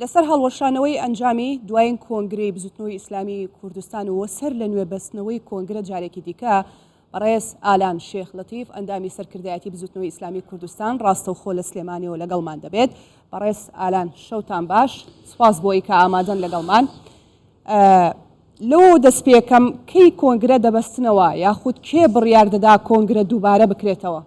لەسەر هەڵوەشانەوەی ئەنجامی دوایین کۆنگرەی بزوتنەوەی ئیسلامی کوردستان و سەر لە نوێ بەستنەوەی کۆنگرە جارێکی دیکە بەڕێز ئالان شێخ لەتیف ئەندامی سەرکردایەتی بزوتنەوەی ئیسلامی کوردستان ڕاستەوخۆ لە سلێمانیەوە لەگەڵمان دەبێت بەڕێز ئالان شەوتان باش سپاس بۆی کە ئامادەن لەگەڵمان لەوە دەست پێکەم کەی کۆنگرە دەبەستنەوە یاخود کێ بڕیار دەدا کۆنگرە دووبارە بکرێتەوە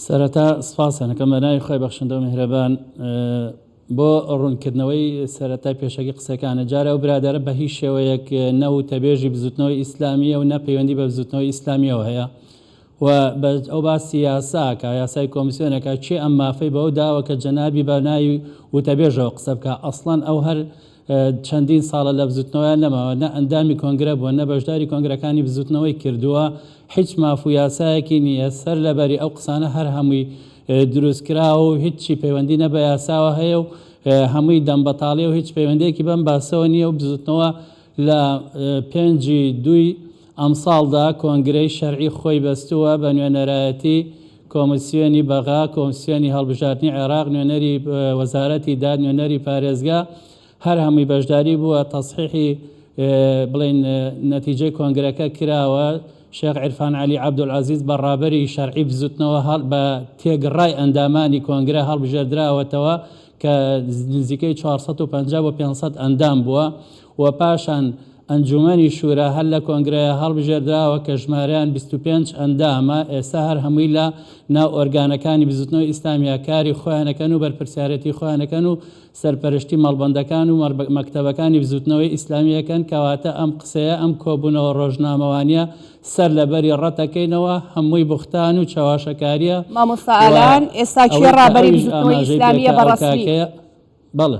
سەرەتا سپاسان دەکەم بە ناوی خۆی بەخشندە و میهرەبان بۆ ڕوونکردنەوەی سەرەتای پێشەکی قسەکانە جارە و برادرە بە هیچ شێوەیەک نەوتەبێژی بزوتنەوەی ئیسلامیە و نەپەیوەندی بە بزوتنەوەی ئیسلامیەوە هەیە و بە ئەو باسی یاساکە یاسای کۆمسیۆنەکە چێ ئەم مافەی بەو داوە کە جەنابی بە ناوی وتەبێژەوە قسە بکە ئەسڵەن ئەو هەر چەندین ساڵە لە بزوتنەوەیان نەماوە، نە ئەندامی کۆنگرە بووە، نە بەشداری کۆنگرەکانی بزوتنەوەی کردووە، هیچ ماف و یاسایەکی نییە، سەر لەبەری ئەو قسانە هەر هەمووی دروستکراوە و هیچی پەیوەندی نە بە یاساوە هەیە و هەمووی دەمبەتاڵیە و هیچ پەیوەندیەکی بەم باسەوە نییە و بزوتنەوە لە پێنج ی دووی ئەمساڵدا کۆنگرەی شەرعی خۆی بەستووە بە نوێنەرایەتی کۆمیسیۆنی بەغا، کۆمیسیۆنی هەڵبژاردنی عێراق، نوێنەری وەزارەتی داد، نوێنەری پارێزگا، هەر هەمووی بەشداری بووە، تەسحیحی بڵێین نەتیجەی کۆنگرەکە کراوە، شێخ عیرفان عەلی عەبدولعەزیز بە ڕابەری شەرعی بزوتنەوە بە تێگڕای ئەندامانی کۆنگرە هەڵبژێردراوەتەوە کە نزیکەی چوار سەد و پەنجا بۆ پێنج سەد ئەندام بووە و پاشان ئەنجوومەنی شورا هەر لە کۆنگرەیە هەڵبژێردراوە کە ژمارەیان بیست و پێنج ئەندامە، ئێستا هەر هەمووی لە ناو ئۆرگانەکانی بزوتنەوەی ئیسلامیە کاری خۆیان ئەکەن و بەرپرسیارێتی خۆیان ئەکەن و سەرپەرشتی مەڵبەندەکان و مەکتەبەکانی بزوتنەوەی ئیسلامی ئەکەن، کەواتە ئەم قسەیە ئەم کۆبوونەوە ڕۆژنامەوانیە سەر لە بەری ڕەت ئەکەینەوە، هەمووی بوختان و چەواشەکاریە مامۆستا و ئالان ئێستا کێ ئەوەی کە ڕابەری ئەویش بزوتنەوەی ئاماژەی ئیسلامیە پێکا بە ئەو ڕەسمی؟ کاکەیە بەڵێ.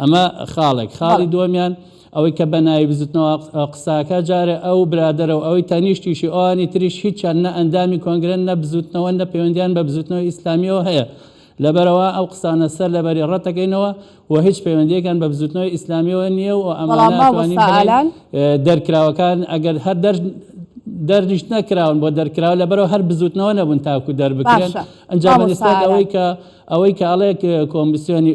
ئەمە خاڵێک خاڵی دووەمیان ئەوەی کە بە ناوی بزوتنەوە قساکە جارێ ئەو برادەرە و ئەوەی تەنیشتیشی ئەوانی تریش هیچیان نە ئەندامی کۆنگرن نە بزوتنەوە نە پەیوەندیان بە بزوتنەوە ئیسلامیەوە هەیە لەبەرەوە ئەو قسانە سەر لەبەری ڕەتەکەینەوە و هیچ پەیوەندیەکان بە بزوتنەوە ئیسلامیەوە نییە و ئەمانەوانین دەرکراوەکان ئەگەر هەر دەر دەرنیش نەکراون بۆ دەرکراوە لەبەرەوە هەر بزوتنەوە نەبوون تاکو دەربکرێن ئەنجام ئەوەی کە ئەوەی کە ئەڵێ کۆمیسیۆنی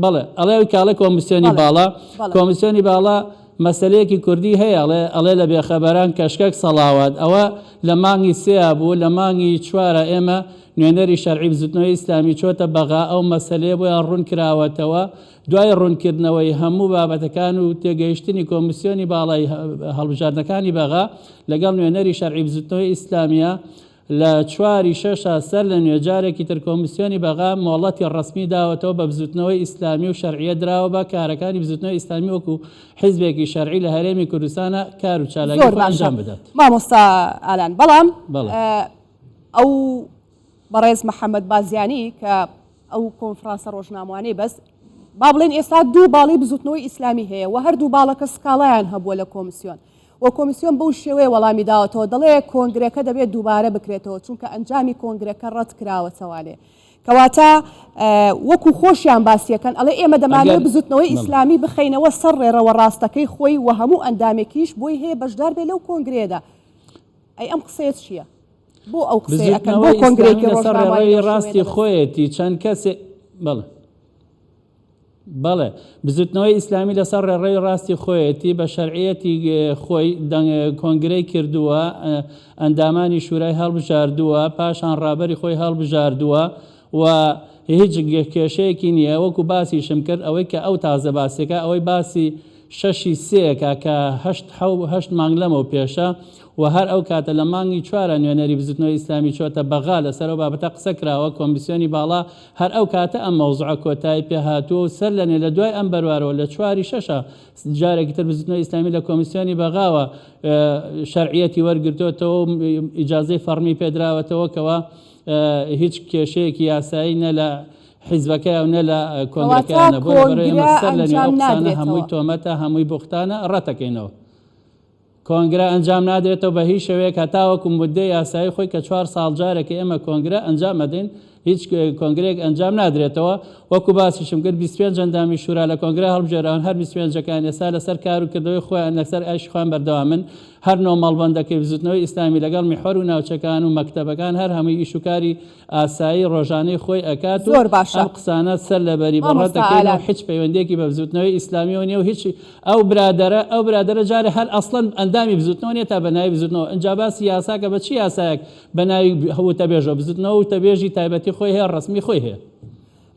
بەڵێ ئەڵێ ئەوی کاڵێ کۆمیسیۆنی باڵا کۆمیسیۆنی باڵا مەسلەیەکی کوردی هەیە ئەڵێ ئەڵێ لە بێخەبەران کەشکەک سەڵاوات ئەوە لە مانگی سێیا بوو لە مانگی چوارە ئێمە نوێنەری شەرعی بزوتنەوەی ئیسلامی چۆتە بەغا ئەو مەسلەیە بۆیان ڕوون کراوەتەوە دوای ڕوونکردنەوەی هەموو بابەتەکان و تێگەیشتنی کۆمیسیۆنی باڵای هەڵبژاردنەکانی بەغا لەگەڵ نوێنەری شەرعی بزوتنەوەی ئیسلامیە لە چوار ی شەش ە سەر لە نوێ جارێکی تر کۆمیسیۆنی بەغا مۆڵەتی ڕەسمی داوەتەوە بە بزووتنەوەی ئیسلامی و شەرعیەت دراوە بە کارەکانی بزووتنەوەی ئیسلامی وەکو حیزبێکی شەرعی لە هەرێمی کوردستانا کار و چالاکی زۆر خۆی باشە ئەنجام بدات. مامۆستا ئالان بەڵام بەڵێ. ئەو بەڕێز محمد بازیانی کە ئەو کۆنفڕانسە ڕۆژناموانەی بەست با بڵێن ئێستا دوو باڵی بزووتنەوەی ئیسلامی هەیە و هەردوو باڵەکە سکاڵایان هەبووە لە کۆمسیۆن و کۆمیسیۆن بەو شێوەیە وەڵامی داوەتەوە دەڵێ کۆنگرەکە دەبێت دووبارە بکرێتەوە چونکە ئەنجامی کۆنگرەکە ڕەت کراوەتەوە لێ کەواتە وەکو خۆشیان باسیەکەن ئەڵێ ئێمە دەمانێت بزوتنەوەی ئیسلامی بخینەوە سەر ڕێڕەوە ڕاستەکەی خۆی و هەموو ئەندامێکیش بۆی هەیە بەشدار بێ لەو کۆنگرێدا ئەی ئەم قسەیە چییە؟ بۆ ئەو قسەکەەوەی ڕاستی خۆیەتی چەند کەسێ بڵێ بەڵێ، بزوتنەوەی ئیسلامی لەسەر ڕێڕەوی ڕاستی خۆیەتی، بە شەرعیەتی خۆی کۆنگرەی کردووە، ئەندامانی شورای هەڵبژاردووە، پاشان ڕابەری خۆی هەڵبژاردووە و هیچ کێشەیەکی نییە، وەکو باسیشم کرد ئەوەی کە ئەو تازە باسیەکە ئەوەی باسی شەشی سێیەکە کە هەشت حەو هەشت مانگ لەمەو پێشە و هەر ئەو کاتە لە مانگی چوارە نوێنەری بزوتنەوەی ئیسلامی چۆتە بەغا لەسەر ئەو بابەتە قسە کراوە کۆمیسیۆنی باڵا هەر ئەو کاتە ئەم مەوزعە کۆتایی پێ هاتووە و سەر لەنوێ لە دوای ئەم بەروارەوە لە چواری شەشە جارێکی تر بزوتنەوەی ئیسلامی لە کۆمیسیۆنی بەغاوە شەرعیەتی وەرگرتۆتەوە و ئیجازەی فەڕمی پێدراوەتەوە کەوا هیچ کێشەیەکی یاسایی نە لە حیزبەکەیان و نە لە کۆنگرەکەیانە بۆیە بەڕێ ئێمە کۆنگرە سەر لەنوێ ئەو ئەنجام قسانە نادرێتەوە. هەمووی تۆمەتە هەمووی بوختانە ڕەتەکەینەوە کۆنگرە ئەنجام نادرێتەوە بە هیچ شێوەیەک هەتاوەکو موددەی یاسایی خۆی کە چوار ساڵ جارێک ئێمە کۆنگرە ئەنجام ئەدەین هیچ کۆنگرەیەک ئەنجام نادرێتەوە وەکو باسیشم کرد بیست پێنج ئەندامی شورا لە کۆنگرە هەڵبژێراون هەر بیست پێنجەکەیان ئێستا لەسەر کار و کردەوەی خۆیان لەسەر ئایشی خۆیان بەردەوامن هەر نۆ مەڵبەندەکەی بزوتنەوەی ئیسلامی لەگەڵ میحوەر و ناوچەکان و مەکتەبەکان هەر هەمووی ئیش و کاری ئاسایی ڕۆژانەی خۆی ئەکات و زۆر باشە ئەم قسانە سەر لەبەری بە ڕەت مامۆستا ئەکەین و ئالان. هیچ پەیوەندیەکی بە بزوتنەوەی ئیسلامیەوە نیە و هیچ ئەو برادەرە ئەو برادەرە جارێ هەر ئەسڵەن ئەندامی بزوتنەوە نیە تا بە ناوی بزوتنەوە ئنجا باسی یاساکە بە چ یاسایەک بە ناوی وتەبێژە بزوتنەوە وتەبێژی تایبەتی خۆی هەیە ڕەسمی خۆی هەیە.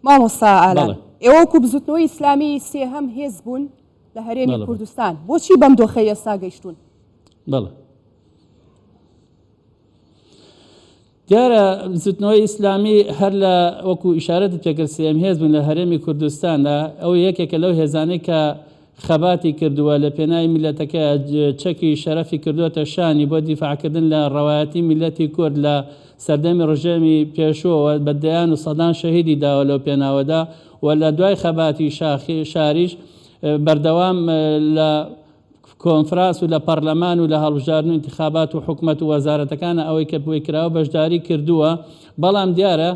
مامۆستا ئالان بەڵێ. ئێوە وەکو بزوتنەوەی ئیسلامی سێهەم هێز بوون لە هەرێمی بەڵێ بەڵێ. کوردستان بۆچی بەم دۆخەی ئێستا گەیشتوون؟ بەڵێ. دیارە بزوتنەوەی ئیسلامی هەر لە وەکو ئیشارەتت پێکرد سێم هێز بوون لە هەرێمی کوردستاندا، ئەو یەکێکە لەو هێزانەی کە خەباتی کردووە لە پێناوی میللەتەکەیا، چەکی شەرەفی کردووەتە شانی بۆ دیفاعکردن لە ڕەوایەتی میللەتی کورد لە سەردەمی ڕژێمی پێشووەوە بە دەیان و سەدان شەهیدی داوە لەو پێناوەدا و لە دوای خەباتی شاخی شاریش بەردەوام لە کۆنفراس و لە پەڕلەمان و لە هەڵبژاردن و ئینتخابات و حکومەت و وەزارەتەکانە ئەوەی کە بۆی کراوە بەشداری کردووە بەڵام دیارە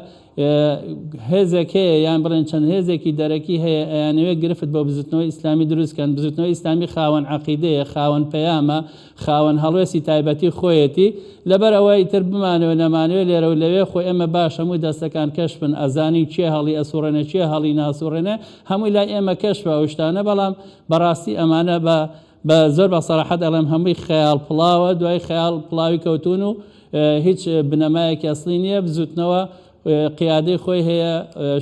هێزێک هەیە یان بڵێن چەند هێزێکی دەرەکی هەیە ئەیانەوێ گرفت بۆ بزوتنەوەی ئیسلامی دروستکەن بزوتنەوەی ئیسلامی خاوەن عقیدەیە خاوەن پەیامە خاوەن هەڵوێستی تایبەتی خۆیەتی لەبەر ئەوە ئیتر بمانەوە نەمانەوە لێرە و لەوێ خۆ ئێمە باش هەموو دەستەکان کەشفن ئەزانین چێ هەڵی ئەسوڕێنە چێ هەڵی ناسوڕێنە هەمووی لای ئێمە کەشفە ئەو شتانە بەڵام بەڕاستی ئەمانە بە بە زۆر بە سەراحەت ئەڵێم هەمووی خەیاڵ پڵاوە دوای خەیاڵ پڵاوی کەوتون و هیچ بنەمایەکی ئەسڵی نییە بزوتنەوە قیادەی خۆی هەیە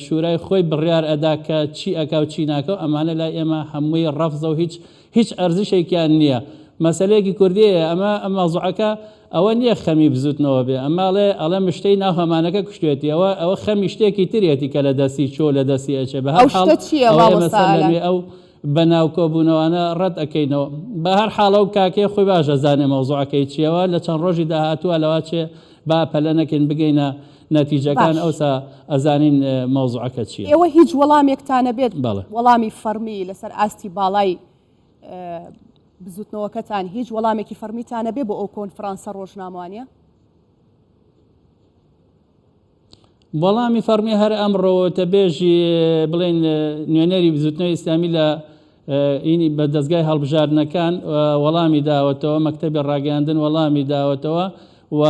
شورای خۆی بڕیار ئەدا کە چی ئەکا و چی ناکە و ئەمانە لای ئێمە هەمووی ڕەفزە و هیچ هیچ ئەرزشێکیان نییە مەسەلەیەکی کوردیە ئەمە ئەم مەزوعەکە ئەوە نیە خەمی بزوتنەوە بێ ئەمە ئەڵێ ئەڵێ مشتەی ناو هەمانەکە کوشتوێتی ئەوە ئەوە خەمی شتێکی ترێتی کە لە دەستی چۆ لە دەستی ئەچێ بە هەر حاڵ ئەوە ئێمە سەر لە نوێ ئەو بە ناو کۆبونەوانە ڕەت ئەکەینەوە بە هەر حاڵ ئەو کاکەیە خۆی باش ئەزانێ مەوزوعەکەی چیە و لە چەند ڕۆژی داهاتووە لەوا چێ با پەلە نەکەین بگەینە نەتیجەکان ئەوسا ئەزانین مەوزوعەکە چیە. ئێوە هیچ وەڵامێکتان نەبێت وەڵامی فەڕمی لەسەر ئاستی باڵای بزوتنەوەکەتان هیچ وەڵامێکی فەرمیتانە بێ بۆ ئەو کۆنفرانسە ڕۆژناموانە وەڵامی فەرمی هەر ئەمڕۆتە بێژی بڵێن نوێنەری بزوتنەوە ئیسلامی لە ئینی بە دەستگای هەڵبژاردنەکان وەڵامی داوەتەوە مەکتتەبی ڕاگەاندن وەڵامی داوەتەوە و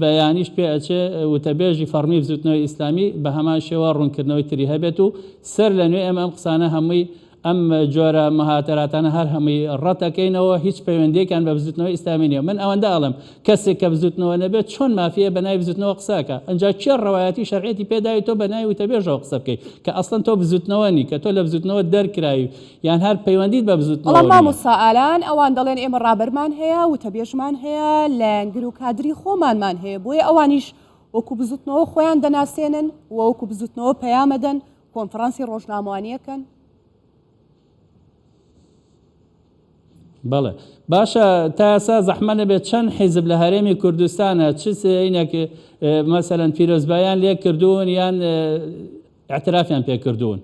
بەیانیش پێ ئەچێ وتەبێژی فەرمی بزوتنەوە ئیسلامی بە هەمان شێوە ڕوونکردنەوەی تری هەبێت و سەر لە نوێ ئەم ئەم قسانە هەمووی ئەم جۆرە مهاتەراتانە هەر هەمووی ڕەتەکەینەوە، هیچ پەیوەندییەکیان بە بزوتنەوەی ئیسلامی نییە. من ئەوەندە ئەڵێم، کەسێک کە بزوتنەوە نەبێت چۆن مافییە بە ناوی بزوتنەوە قسە ئەکا؟ ئنجا کێ ڕەوایەتی و شەرعیەتی پێ داوی تۆ بە ناوی وتەبێژەوە قسە بکەی کە ئەسڵەن تۆ بزوتنەوە نی، کە تۆ لە بزوتنەوە دەرکراوی یان هەر پەیوەندیت بە بەڵام بزوتنەوە نییە؟ مامۆستا ئالان ئەوان دەڵێن ئێمە ڕابەرمان هەیە، وتەبێژمان هەیە، لایەنگر و کادری خۆمانمان هەیە، بۆیە ئەوانیش وەکو بزوتنەوە خۆیان دەناسێنن و وەکو بزوتنەوە پەیامەدەن کۆنفرانسی ڕۆژناموانیەکەن بەڵێ باشە تا ئێستا زەحمە نەبێت چەند حیزب لە هەرێمی کوردستانە چ سینێک مەسەرەن پیرۆزبایان لێ کردوون یان اعترافیان پێ کردوون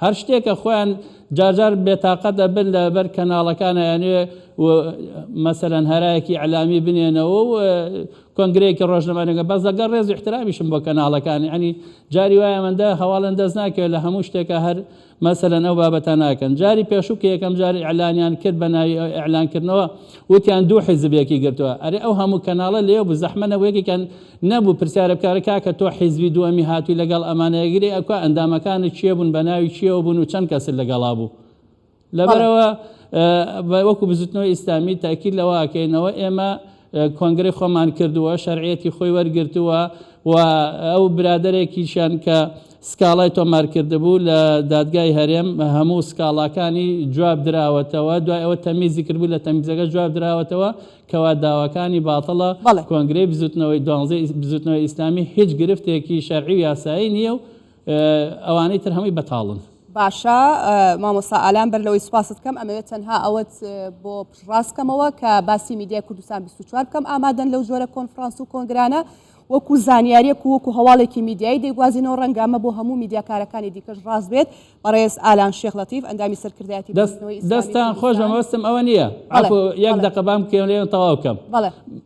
هەر شتێکە خۆیان جارجار بێتاقەت دەبن لە بەر کەناڵەکانیانێ مەسەرەن هەرایەکی ئەلامی بنێنەوە و کۆنگرەیەکی ڕۆژنەمانەگە بەس لەگەڵ ڕێز و احترامیشم بۆ کەناڵەکان یعنی جاری وایە مەندە هەواڵن دەست ناکەوێت لە هەموو شتێکە هەر مەسەلەن ئەو بابەتە ناکەن جاری پێشوو کە یەکەم جاری ئەلانیان کرد بە ناوی ئەلانکردنەوە وتیان دوو حیزبێکی گرتووە ئەرێ ئەو هەموو کەناڵە لێ بوو زەحمە نەبووەکێکیان نەبوو پرسیارە بکارە کاکە تۆ حیزبی دووەمی هاتووی لەگەڵ ئەمانەیەگرێ ئەکوا ئەندامەکانت چێ بوون بە ناوی چیەوە بوون و چەند کەسل لەگەڵا بوو لەبەرئەوە وەکو بزوتنەوەی ئیسلامی تەئکید لەوە ئەکەینەوە ئێمە کۆنگرەی خۆمان کردووە شەرعیەتی خۆی وەرگرتووە و ئەو برادەرێکیشیان کە سکاڵای تۆمارکردبوو لە دادگای هەرێم هەموو سکاڵاکانی جواب دراوەتەوە دوای ئەوە تەمیزی کردبوو لە تەمیزەکە جواب دراوەتەوە کەوا داواکانی باتڵە کۆنگرەی بزوتنەوەی دوانزەی بزوتنەوەی ئیسلامی هیچ گرفتێکی شەرعی و یاسایی نییە و ئەوانەی تر هەمووی بەتاڵن. باشە مامۆستا ئالان بەر لەوەی سوپاست کەم ئەمەوێت تەنها ئەوەت بۆ پشڕاست کەمەوە کە باسی میدیای کوردستان 24 بکەم ئامادەن لەو جۆرە کۆنفرانس و کۆنگرانە وەکو زانیاریەک و وەکو هەواڵێکی میدیایی دەیگوازینەوە ڕەنگە ئەمە بۆ هەموو میدیاکارەکانی دیکەش ڕاست بێت بەڕێز ئالان شێخ لەتیف ئەندامی سەرکردایەتی دەستان خۆش بەمەوەستم ئەوە نییە یەک دەقە بام کێڵێن تەواو کەم بەڵێ